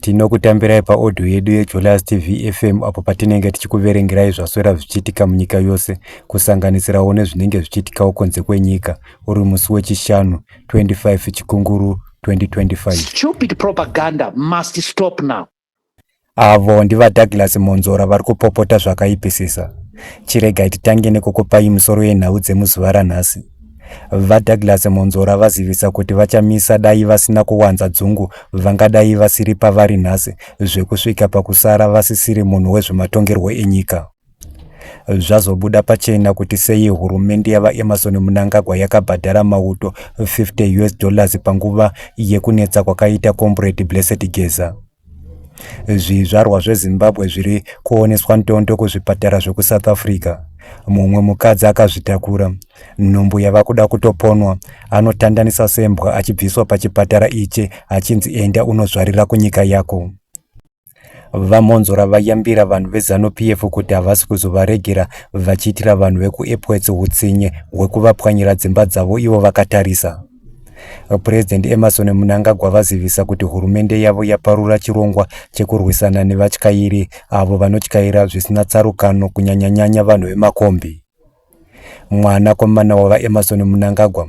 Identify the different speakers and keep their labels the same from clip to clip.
Speaker 1: Tinokutambirai paodhiyo yedu yeJolas TV FM apo patinenge tichikuverengerai zvaswera zvichiitika munyika yose, kusanganisirawo nezvinenge zvichiitikawo kunze kwenyika, uri musi weChishanu 25 Chikunguru 2025. Stupid
Speaker 2: propaganda must stop now. Avo
Speaker 1: ndivaDouglas Monzora vari kupopota zvakaipisisa. Chiregai titange nekukupai musoro yenhau dzemuzuva ranhasi. VaDouglas Mwonzora vazivisa kuti VaChamisa dai vasina kuwanza dzungu vangadai vasiri pavari nhasi zvekusvika pakusara vasisiri munhu wezvematongerwo enyika. Zvazobuda pachena kuti sei hurumende yaVaEmmerson Mnangagwa yakabhadhara mauto 50 US dollars panguva yekunetsa kwakaita Comrade Blessed Geza. Zvizvarwa zveZimbabwe zviri kuoneswa ndondo kuzvipatara zvekuSouth Africa. Mumwe mukadzi akazvitakura, nhumbu yava kuda kutoponwa, anotandanisa sembwa achibviswa pachipatara ichi achinzi enda unozvarira kunyika yako. VaMhonzora vayambira vanhu veZanu PF kuti havasi kuzovaregera vachiitira vanhu vekuEpworth hutsinye hwekuvapwanyira dzimba dzavo ivo vakatarisa. Purezidhendi Emmerson Mnangagwa vazivisa kuti hurumende yavo yaparura chirongwa chekurwisana nevatyairi avo vanotyaira zvisina tsarukano kunyanyanyanya vanhu vemakombi. Mwanakomana waVaEmmerson Mnangagwa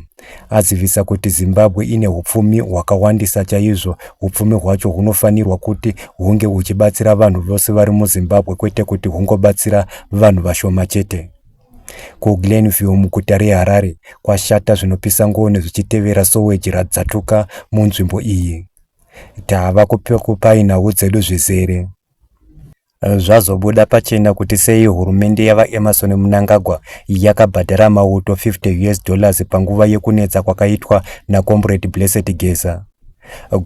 Speaker 1: azivisa kuti Zimbabwe ine upfumi hwakawandisa chaizvo, upfumi hwacho hunofanirwa kuti hunge huchibatsira vanhu vose vari muZimbabwe kwete kuti hungobatsira vanhu vashoma chete. KuGlenview muguta reHarare kwashata zvinopisa ngoni zvichitevera soweji radzatuka munzvimbo iyi. Tava kupai nhau dzedu zvizere. Zvazobuda pachena kuti sei hurumende yavaEmmerson Mnangagwa yakabhadhara mauto 50 US dollars panguva yekunetsa kwakaitwa naComrade Blessed Geza.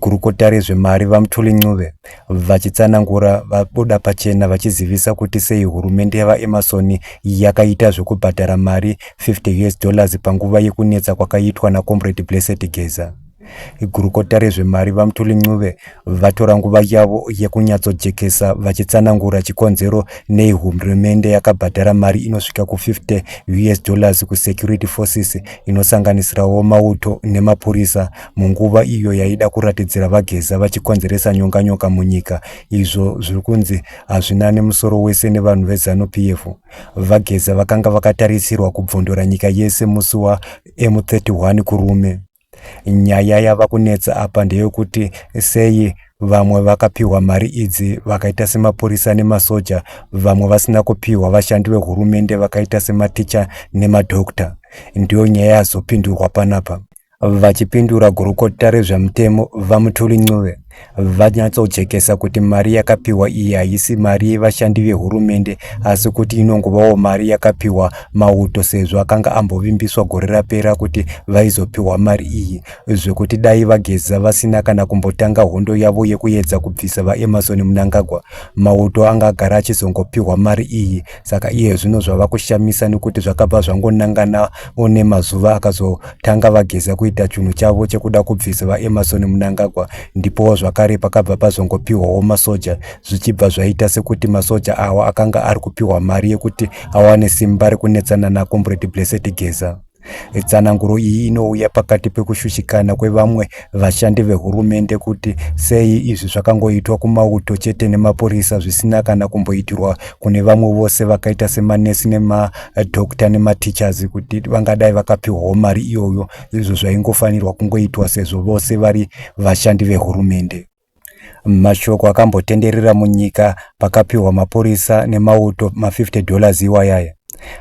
Speaker 1: Gurukota rezvemari VaMthuli Ncube vachitsanangura vabuda pachena vachizivisa kuti sei hurumende yaVaEmmerson yakaita zvekubhadhara mari 50 US dollars panguva yekunetsa kwakaitwa naComrade Blessed Geza. Gurukota rezvemari VaMthuli Ncube vatora nguva yavo yekunyatsojekesa vachitsanangura chikonzero nei hurumende yakabhadhara mari inosvika ku50 US dollars kuSecurity Forces inosanganisirawo mauto nemapurisa munguva iyo yaida kuratidzira vageza vachikonzeresa nyonganyoka munyika izvo zviri kunzi hazvina nemusoro wese nevanhu vezanu p f vageza vakanga vakatarisirwa kubvondora nyika yese musi wamu31 kurume nyaya yava kunetsa apa ndeyokuti sei vamwe vakapiwa mari idzi vakaita semapurisa nemasoja vamwe vasina kupiwa vashandi vehurumende vakaita sematicha nemadokta ndiyo nyaya yazopindurwa panapa Vachipindura gurukota rezvemutemo VaMuthuli Ncube vanyatsojekesa kuti mari yakapiwa iyi haisi mari yevashandi vehurumende asi kuti inongovawo mari yakapiwa mauto sezvo akanga ambovimbiswa gore rapera kuti vaizopiwa mari iyi zvekuti dai vageza vasina kana kumbotanga hondo yavo yekuyedza kubvisa vaemarson munangagwa mauto anga agara achizongopiwa mari iyi saka iye zvino zvava kushamisa nekuti zvakabva zvangonangana one mazuva akazotanga vageza kuita chunhu chavo chekuda kubvisa vaemarson munangagwa ndipowo zvakare pakabva pazongopiwawo masoja zvichibva zvaita sekuti masoja awa akanga ari kupiwa mari yekuti awane simba rekunetsana nakombredi blessed geza Tsananguro iyi inouya pakati pekushushikana kwevamwe vashandi vehurumende kuti sei izvi zvakangoitwa kumauto chete nemapurisa zvisina kana kumboitirwa kune vamwe vose vakaita semanesi nemadokta nematichers kuti vangadai vakapiwawo mari iyoyo izvo zvaingofanirwa kungoitwa sezvo vose vari vashandi vehurumende. Mashoko akambotenderera munyika pakapiwa mapurisa nemauto ma50 dollars iwayaya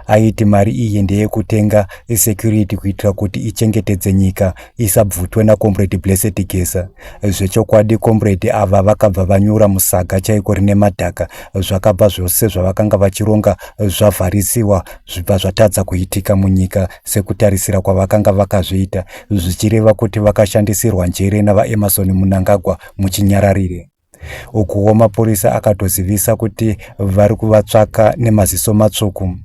Speaker 1: aiti mari iyi ndeyekutenga security kuitira kuti ichengetedze nyika isabvutwe nakomredi blessed gesa zvechokwadi komredi ava vakabva vanyura musaga chaiko rine madhaka zvakabva zvose zvavakanga vachironga zvavharisiwa zvibva zvatadza kuitika munyika sekutarisira kwavakanga vakazviita zvichireva kuti vakashandisirwa njere navaemarson munangagwa muchinyararire ukuwo mapurisa akatozivisa kuti vari kuvatsvaka nemaziso matsvuku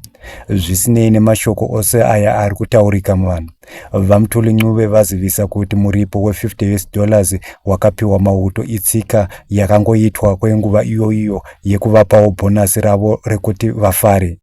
Speaker 1: zvisinei nemashoko ose aya ari kutaurika muvanhu vamtuli ncube vazivisa kuti muripo we50 us dollars wakapiwa mauto itsika yakangoitwa kwenguva iyoiyo yekuvapawo bhonasi ravo rekuti vafare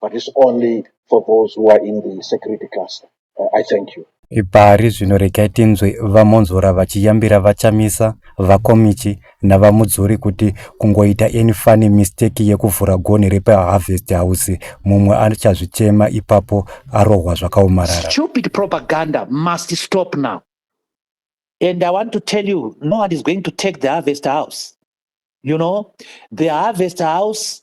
Speaker 3: but it's only for those who are in the security cluster. Uh, I thank you. Ipari zvino regai
Speaker 1: tinzwe vamonzora vachiyambira vachamisa, vakomichi navamudzuri kuti kungoita any funny mistake yekuvhura gonhi repaharvest house mumwe achazvichema ipapo arohwa zvakaomarara. Stupid propaganda
Speaker 2: must stop now. And I want to tell you, no one is going to take the harvest house. You know, the harvest house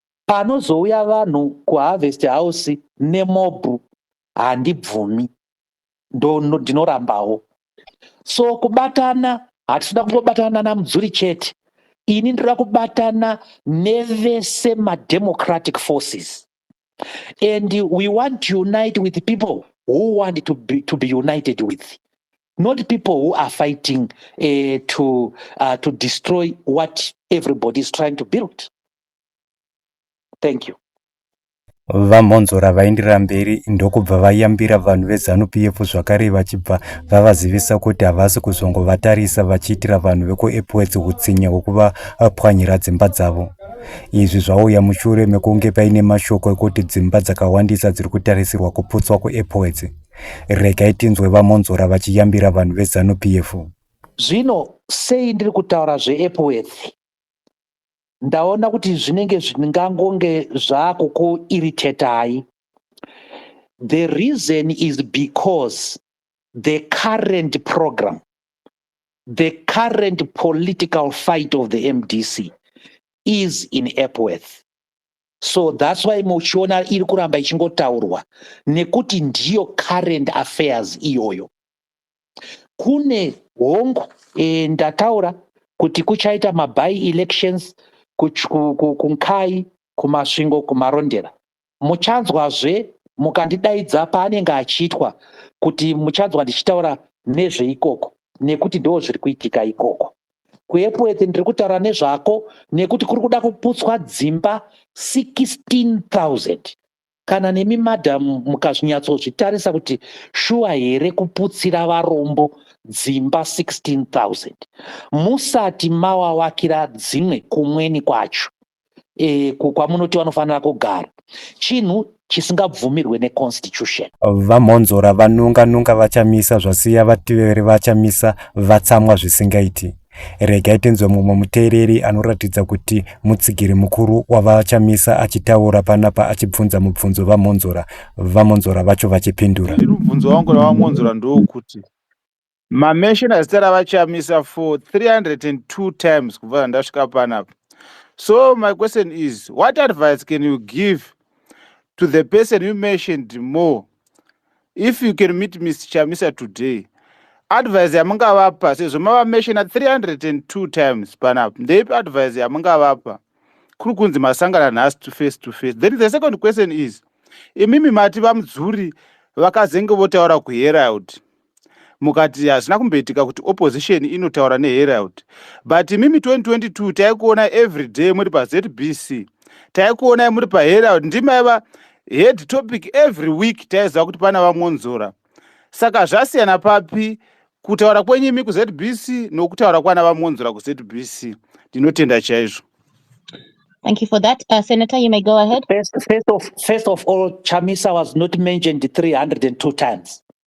Speaker 2: panozouya vanhu kuharvest house nemob handibvumi ndinorambawo so kubatana hatitoda kungobatana namudzuri chete ini ndoda kubatana nevese mademocratic forces and we want to unite with people who want to be, to be united with not people who are fighting uh, to, uh, to destroy what everybody is trying to build Thank you.
Speaker 1: VaMhonzora vaenderera mberi ndokubva vayambira vanhu veZanu-PF zvakare vachibva vavazivisa kuti havasi kuzongovatarisa vachiitira vanhu vekuEpworth hutsinye hwekuvapwanyira dzimba dzavo. Izvi zvauya mushure mekunge paine mashoko ekuti dzimba dzakawandisa dziri kutarisirwa kuputswa kuEpworth. Regai tinzwe VaMhonzora vachiyambira vanhu veZanu-PF. Zvino
Speaker 2: sei ndiri kutaura zveEpworth? ndaona kuti zvinenge zvingangonge zvakukuirritatai the reason is because the current program the current political fight of the mdc is in epworth so thats why muchiona iri kuramba ichingotaurwa nekuti ndiyo current affairs iyoyo kune hongu e, ndataura kuti kuchaita maby elections kunkai kumasvingo kumarondera muchanzwazve mukandidaidza paanenge achiitwa kuti muchanzwa ndichitaura nezveikoko nekuti ndo zviri kuitika ikoko kuepwete ndiri kutaura nezvako nekuti kuri kuda kuputswa dzimba 16000 Kana nemi madam mukazvinyatsozvitarisa kuti shuwa here kuputsira varombo dzimba 16000 musati mawawakira dzimwe kumweni kwacho e, kwamunoti vanofanira kugara chinhu chisingabvumirwe neconstitution. VaMhonzora
Speaker 1: vanunga nunga vachamisa zvasiya vativeri vachamisa vatsamwa zvisingaiti. Regai tinzwe mumwe muteereri anoratidza kuti mutsigiri mukuru wavaChamisa achitaura panapa achibvunza mubvunzo vaMhonzora, vaMhonzora vacho vachipindura. Ini mubvunzo wangu
Speaker 4: naVaMhonzora ndewekuti mamesheni azita ravaChamisa for 302 times kubva zvandasvika panapa. So my question is what advice can you give to the person you mentioned more if you can meet mr chamisa today advise yamungavapa sezvo mavameshona 302 times panapa ndeipi advise yamungavapa kuri kunzi masangana nhasi to face to face then the second question is imimi mati vamudzuri vakazenge votaura kuherald mukati hazvina kumboitika kuti opposition inotaura neherald but imimi 2022 taikuona every day muri pazbc taikuonai muri paherald ndimaiva head topic every week taiziva kuti pana vamwonzora saka zvasiyana papi kutaura kwenyu imi kuzbc nokutaura kwana vamwonzora kuzbc ndinotenda chaizvo
Speaker 5: Thank you for that. Uh, Senator, you may go ahead. First, first, of, first
Speaker 2: of all, Chamisa was not mentioned 302 times.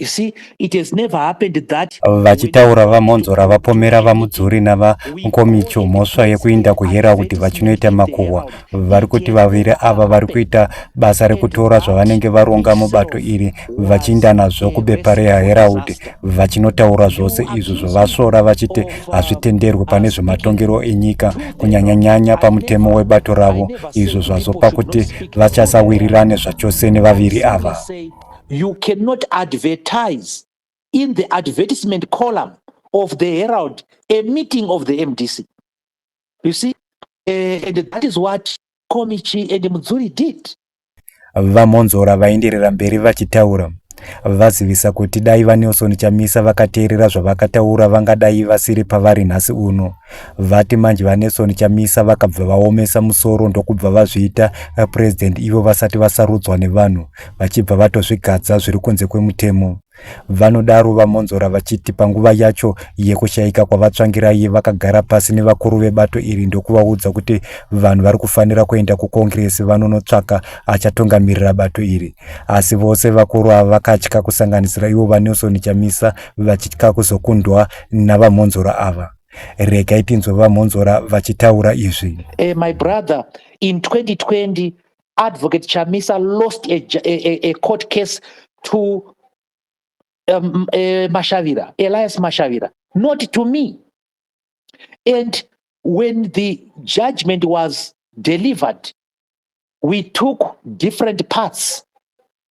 Speaker 2: You see, it has never happened that vachitaura vamhonzora
Speaker 1: vapomera vamudzuri navankomicho mhosva yekuinda kuhera kuti vachinoita makuhwa vari kuti vaviri ava vari kuita basa rekutora zvavanenge varonga mubato iri vachiinda nazvo kubepa rehaeraudi vachinotaura zvose izvo zvavasvora vachiti hazvitenderwe pane zvematongerwo enyika kunyanyanyanya pamutemo webato ravo izvo zvazopa kuti vachasawirirane zvachose nevaviri ava you
Speaker 2: cannot advertise in the advertisement column of the herald a meeting of the mdc you see uh, and that is what komichi and mudzuri did vamonzora
Speaker 1: vaenderera mberi vachitaura vazivisa kuti dai vanelson chamisa vakateerera zvavakataura vangadai vasiri pavari nhasi uno vati manje vaNelson Chamisa vakabva vaomesa musoro ndokubva vazviita eh, president ivo vasati vasarudzwa nevanhu vachibva vatozvigadza zviri kunze kwemutemo vanodaro vamonzora vachiti panguva yacho yekushayika kwavatsvangirai vakagara pasi nevakuru vebato iri ndokuvaudza kuti vanhu vari kufanira kuenda kukongiresi vanonotsvaka achatungamirira bato iri asi vose vakuru ava vakatya kusanganisira ivo vanelson chamisa vachitya kuzokundwa navamhonzora ava regai tinzwe vamhonzora vachitaura izvi uh, my brother
Speaker 2: in 2020 advocate chamisa lost a, a, a, a court case to um, uh, mashavira elias mashavira not to me and when the judgment was delivered we took different parts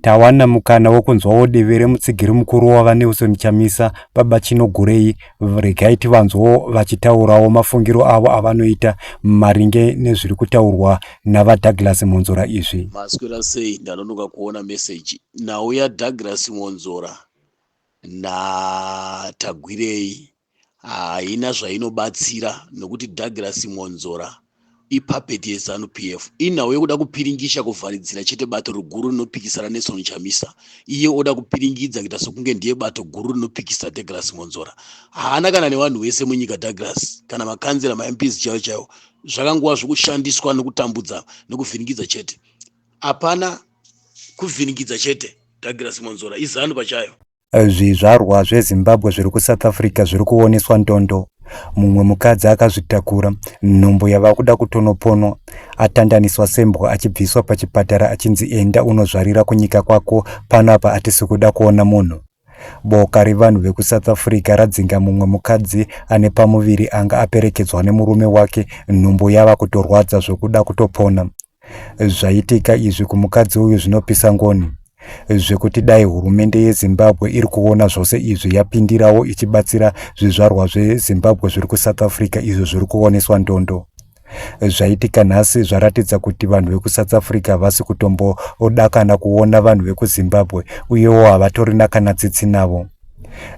Speaker 1: Tawana mukana wekunzwawo divi remutsigiri mukuru waVaNelson Chamisa, Baba Chinogurei. Regai tivanzwewo vachitaurawo mafungiro avo avanoita maringe nezviri kutaurwa naVaDouglas Mwonzora izvi. Maswera sei?
Speaker 6: Ndanonoka kuona meseji. Nhau yaDouglas Mwonzora naTagwirei haina zvainobatsira nokuti Douglas Mwonzora ipuppet yeZanu PF inhau yekuda kupiringisha kuvharidzira chete bato riguru rinopikisa raNelson Chamisa iye oda kupiringidza kuita sokunge ndiye bato guru rinopikisa Douglas Mwonzora haana kana nevanhu vese munyika Douglas kana makanzera maMPs chaiwo chaiwo zvakangova zvokushandiswa nokutambudza nokuvhiringidza chete hapana kuvhiringidza chete Douglas Mwonzora iZanu pachayo Eh, zvizvarwa
Speaker 1: zvezimbabwe zviri kusouth africa zviri kuoneswa ndondo mumwe mukadzi akazvitakura nhumbu yava kuda kutonoponwa atandaniswa sembwa achibviswa pachipatara achinzi enda unozvarira kunyika kwako pano apa atisi kuda kuona munhu boka revanhu vekusouth africa radzinga mumwe mukadzi ane pamuviri anga aperekedzwa nemurume wake nhumbu yava kutorwadza zvokuda kutopona Zvaitika izvi kumukadzi uyu zvinopisa ngoni zvekuti dai hurumende yezimbabwe iri kuona zvose izvi yapindirawo ichibatsira zvizvarwa zvezimbabwe zviri kusouth africa izvo zviri kuoneswa ndondo zvaitika nhasi zvaratidza kuti vanhu vekusouth africa havasi kutombodakana kuona vanhu vekuzimbabwe uyewo havatorina kana tsitsi navo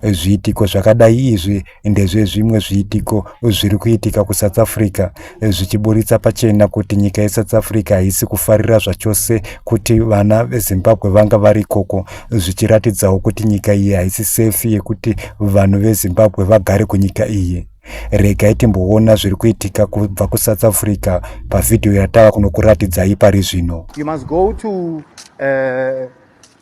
Speaker 1: Zviitiko zvakadai izvi ndezvezvimwe zviitiko zviri kuitika kuSouth Africa zvichiburitsa pachena kuti nyika yeSouth Africa haisi kufarira zvachose kuti vana veZimbabwe vanga vari ikoko zvichiratidzawo kuti nyika iyi haisi safe yekuti vanhu veZimbabwe vagare kunyika iyi. Regai timboona zviri kuitika kubva kuSouth Africa pavhidhiyo yatava kunokuratidzai pari zvino. You must go to,
Speaker 7: uh...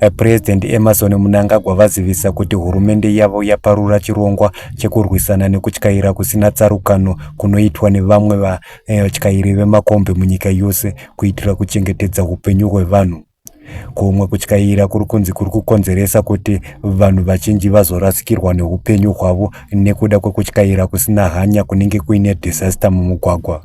Speaker 1: Eh, President Emerson Mnangagwa vazivisa kuti hurumende yavo yaparura chirongwa chekurwisana nekutyaira kusina tsarukano kunoitwa nevamwe vatyairi eh, vemakombi munyika yose kuitira kuchengetedza hupenyu hwevanhu. Kumwe kutyaira kuri kunzi kuri kukonzeresa kuti vanhu vazhinji vazorasikirwa neupenyu hwavo nekuda kwekutyaira kusina hanya kunenge kuine disaster mumugwagwa.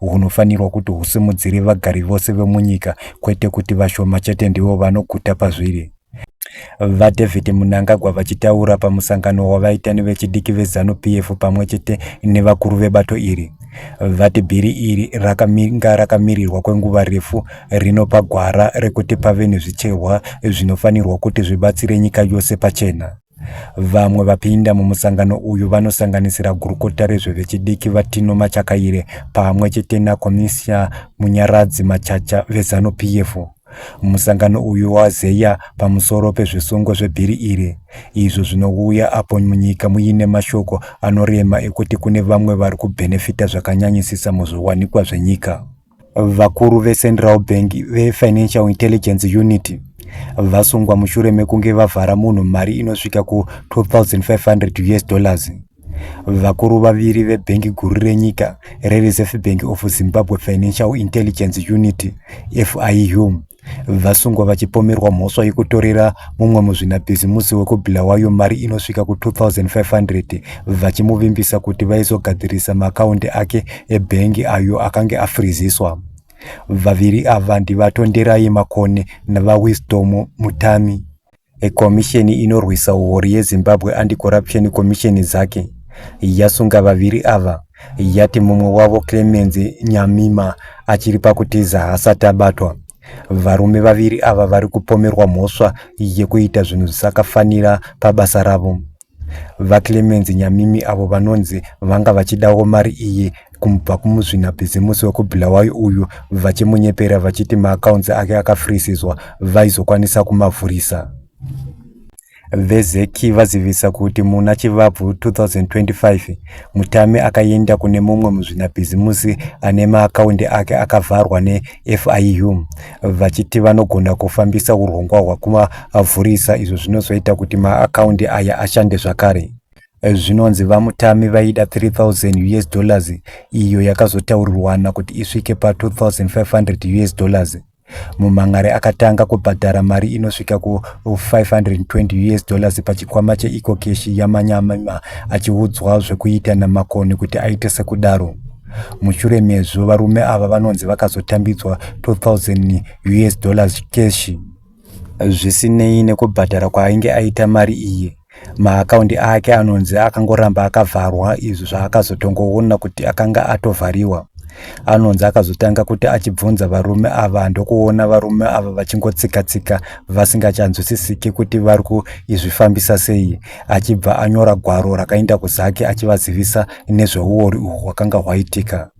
Speaker 1: hunofanirwa kuti husimudzire vagari vose vemunyika kwete kuti vashoma chete ndivo vanoguta pazviri. VaDavid Munangagwa vachitaura pamusangano wavaita nevechidiki veZanu PF pamwe chete nevakuru vebato iri vati bhiri iri rakamira rakamirirwa kwenguva refu rinopa gwara rekuti pave nezvicherwa zvinofanirwa kuti zvibatsire nyika yose pachena. Vamwe vapinda mumusangano uyu vanosanganisira gurukota rezvevechidiki VaTino Machakaire pamwe chete nakomisiya Munyaradzi Machacha veZanu PF. Musangano uyu wazeya pamusoro pezvisungo zvebhiri iri izvo zvinouya apo munyika muine mashoko anorema ekuti kune vamwe vari kubhenefita zvakanyanyisisa muzviwanikwa zvenyika. Vakuru veCentral Bank veFinancial Intelligence Unit vasungwa mushure mekunge vavhara munhu mari inosvika ku2500 us dollars vakuru vaviri vebhengi guru renyika rereserve bank of zimbabwe financial intelligence unit fiu Vasungwa vachipomerwa mhosva yekutorera mumwe muzvinabhizimusi wekubulawayo mari inosvika ku2500 vachimuvimbisa kuti vaizogadzirisa maakaundi ake ebhengi ayo akange afriziswa vaviri ava ndivatonderai makone navawisdom mutami Komisheni inorwisa huori yeZimbabwe Anti-Corruption Commission ZACC yasunga vaviri ava yati mumwe wavo Clemence Nyamima achiri pakutiza haasati abatwa. Varume vaviri ava vari kupomerwa mhosva yekuita zvinhu zvisakafanira pabasa ravo. VaClemence Nyamimi avo vanonzi vanga vachidawo mari iyi kumubva kumuzvinabhizimusi wekuBulawayo uyu vachimunyepera vachiti maakaunzi ake akafrisizwa vaizokwanisa kumavhurisa. VeZec vazivisa kuti muna Chivabvu 2025, Mutame akaenda kune mumwe muzvinabhizimusi ane maakaundi ake akavharwa ne FIU vachiti vanogona kufambisa urongwa hwakumavhurisa izvo zvinozoita kuti maakaundi aya ashande zvakare. Zvinonzi VaMutami vaida 3000 us dollars iyo yakazotaurirwana kuti isvike pa 2500 us dollars. Mumhan'ari akatanga kubhadhara mari inosvika ku 520 us dollars pachikwama cheEcocash yaManyama achiudzwa zvekuita naMakoni kuti aite sekudaro. Mushure mezvo, varume ava vanonzi vakazotambidzwa 2000 US dollars cash. Zvisinei nekubhadhara kwaainge aita mari iyi, maakaundi ake anonzi akangoramba akavharwa izvo zvaakazotongoona kuti akanga atovhariwa. Anonzi akazotanga kuti achibvunza varume ava ndokuona varume ava vachingotsika-tsika vasingacanzwisisiki kuti vari kuizvifambisa sei. achibva anyora gwaro rakaenda kuzake achivazivisa nezveuori uhwu hwakanga hwaitika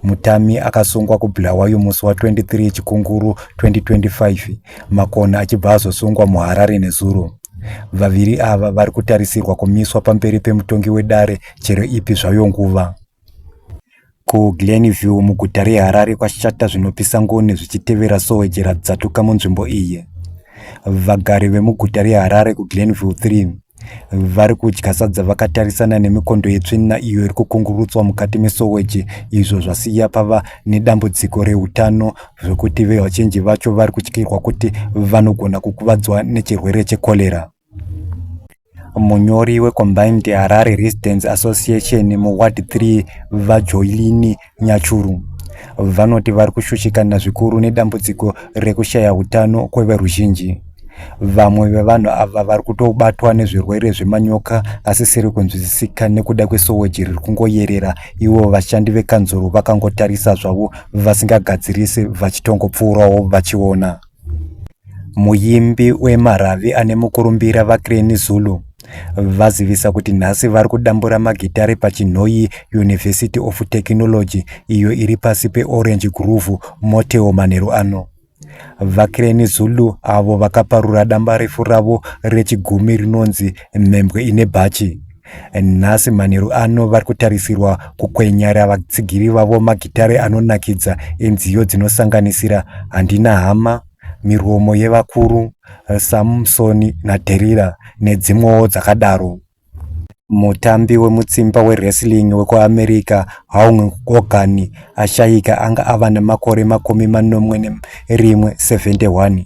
Speaker 1: mutami akasungwa kubulawayo musi wa23 chikunguru 2025 makona achibva azosungwa muharare nezuro vaviri ava vari kutarisirwa kumiswa pamberi pemutongi wedare chero ipi zvayo nguva KuGlen View, muguta reHarare, kwashata zvinopisa ngoni zvichitevera soweje radzatuka munzvimbo iyi. Vagari vemuguta reHarare kuGlen View 3 vari kudya sadza vakatarisana nemikondo yetsvina iyo iri kukungurutswa mukati mesoweji izvo zvasiya pava nedambudziko reutano zvekuti vevachenji vacho vari kutyirwa kuti vanogona kukuvadzwa nechirwere chekorera Munyori weCombined Harare Residents Association muWard 3, VaJoylini Nyachuru, vanoti vari kushushikana zvikuru nedambudziko rekushaya utano kweveruzhinji. Vamwe vevanhu ava vari kutobatwa nezvirwere zvemanyoka asisiri kunzwisisika nekuda kwesoweji riri kungoyerera, ivo vashandi vekanzuru vakangotarisa zvavo vasingagadzirisi vachitongopfuurawo vachiona. Muimbi wemaRavi ane mukurumbira VaCrane Zulu vazivisa kuti nhasi vari kudambura magitare paChinhoyi University of Technology iyo iri pasi peOrange Groove Motel manheru ano. VaCrane Zulu avo vakaparura dambarefu ravo rechigumi rinonzi Mhembwe ine Bhachi. Nhasi manheru ano vari kutarisirwa kukwenyara vatsigiri vavo magitare anonakidza enziyo dzinosanganisira Handina Hama, Miromo yeVakuru, Samsoni naDherira nedzimwewo dzakadaro. Mutambi wemutsimba wewrestling wekuAmerica, Hulk Hogan, ashayika anga ava nemakore makumi manomwe nerimwe, 71.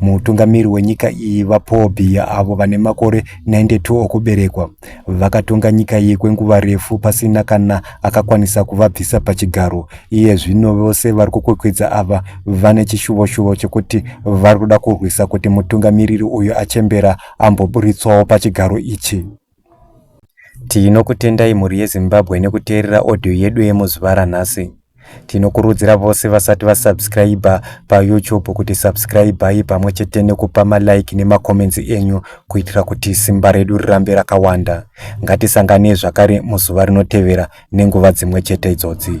Speaker 1: Mutungamiri wenyika iyi VaPaul Biya avo vane makore 92 okuberekwa vakatonga nyika iyi kwenguva refu pasina kana akakwanisa kuvabvisa pachigaro. Iye zvino vose vari kukwekwedza ava vane chishuvo-shuvo chekuti vari kuda kurwisa kuti mutungamiriri uyu achembera amboburitswawo pachigaro ichi. Tinokutendai mhuri yeZimbabwe nekuteerera audio yedu yemuzuva ranhasi. Tinokurudzira vose vasati vasubscriber paYouTube kuti subscribai pamwe chete nekupa malike nemacomments enyu kuitira kuti simba redu rirambe rakawanda. Ngatisanganei zvakare muzuva rinotevera nenguva dzimwe chete idzodzi.